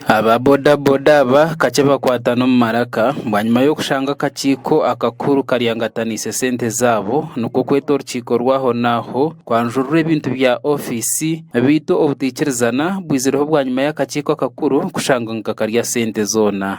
Aba bodaboda aba kakye bakwatana omu maraka bwanyima y'okushanga akakiiko akakuru karyangataniise sente zaabo nikwo kweta orukiiko rwahonaaho kwanjurura ebintu bya ofiisi beitu obutaikirizana bwizireho bwanyima y'akakiiko akakuru kushanga nikakarya sente zoona.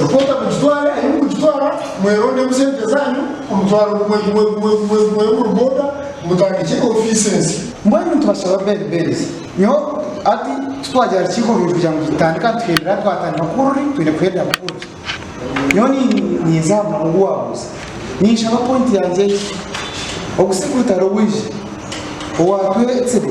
Ripota mugitware ahi murikugitwara, mwerondemu sente zaanyu, omutwaro gumwe gumwe gumwe gumwe gumwe omuri boda, mutandikye ofiisi ensya. Mbwenu nitubashaba bene beereze nyowe hati titwaagira aha rukiiko rwaitu kugira ngu tutandika nituherera twatandika ku ruri twine kuherera ku ruri. Nyowe ni ninza aha muhara ogu waabuuza. Ninshaba pointi yangye egi, Ogusigutare owaije owaatwetsire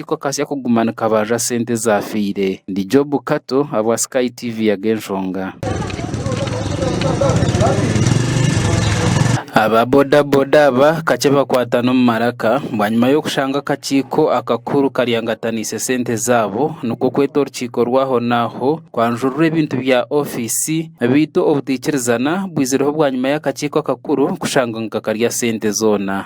Niko kasya kuguma nikabarura sente ezafiire. Ndi Job Kato ahabwa Sky TV ya Genshonga. Aba boda boda aba kakye bakwatana omu maraka bwanyima y'okushanga akakiiko akakuru karyangataniise sente zaabo nikwo kweta orukiiko rwahonaaho kwanjurura ebintu bya ofiisi beitu obutaikirizana bwizireho bwanyima y'akakiiko akakuru kushanga ngu kakarya sente zoona.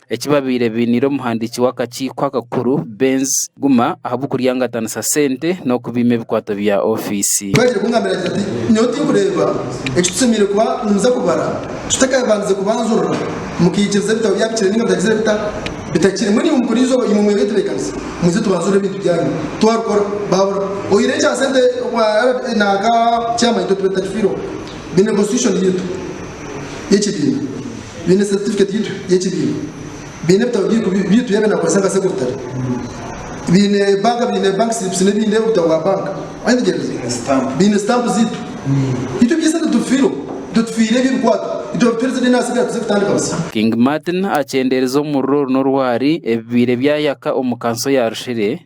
Eki babaire bainiire omuhandiiki w'akakiiko akakuru Benz Guma ahabw'okuryangatanisa sente n'okubiima ebikwato bya ofiisi. Twahikire kungambira ati ati nyowe tinkureeba eki tushemereire kuba nimuza kubara tutakabandize kubanjurira mukaikiriza ebitabo byabikire ninga bitagizire bita bitakire mbwenu imwe mukora eizooba imwe mwebetebekanisa muze tubanjurire ebintu byanyu twarukora babura oyireho ekya sente obwa RBA naka chairman itwe tuba tutakifireho bine constitution yaitu y'ekibiina. baine satifiketi yaitu y'ekibiina, baine ebitabo byaitu ebi naakozesa nka sekuritare, baine banka, baine bank slips n'ebindi, obutabo bwa banka, waayetegyereza, baine sitampu zaitu. Itwe eby'esente titubifiireho, itwe tufiire eby'ebikwate, itwe babituheereze deene ahasigara tuze kutandika busya. King Martin akyendeereza omuriro oru n'orwari ebibaire byayaka omu kanso ya Rushiri.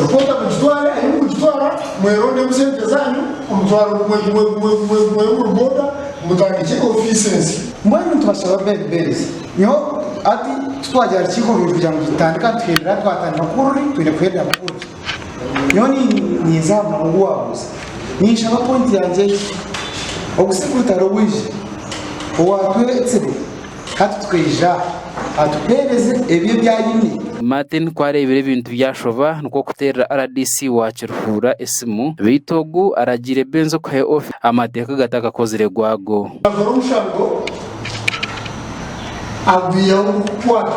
Ripota mugitware ahi murikugitwara, mwerondemu sente zaanyu, omutwaro gumwe gumwe gumwe gumwe gumwe omuri boda, mutandikye ofiisi ensya. Mbwenu nitubashaba bed beereza nyowe hati titwagya aha rukiiko rwaitu kugira ngu tutandika nituherera twatandika ku ruri twine kuherera ku ruri. Nyowe ni ninza aha muhango gw'owabuuza. Ninshaba pointi yangye egi, Ogu si Rwitara owaije, owaatwe etsibo? Hati tukaija aha tukuheereze ebyo ebi aine. Martin ku areebire ebintu byashoba nikwo kuteerera rdc wa Kiruhura esimu beitu ogu aragiire Benzo kuha ofi amateeka gatakakozire gwago. Akakora omusharuro agwihaho kukukwata.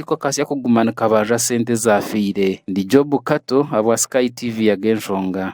Niko kasya kuguma nikabarura sente ezaafiire. Ndi Job Kato ahabwa Sky TV Yaga Enshonga.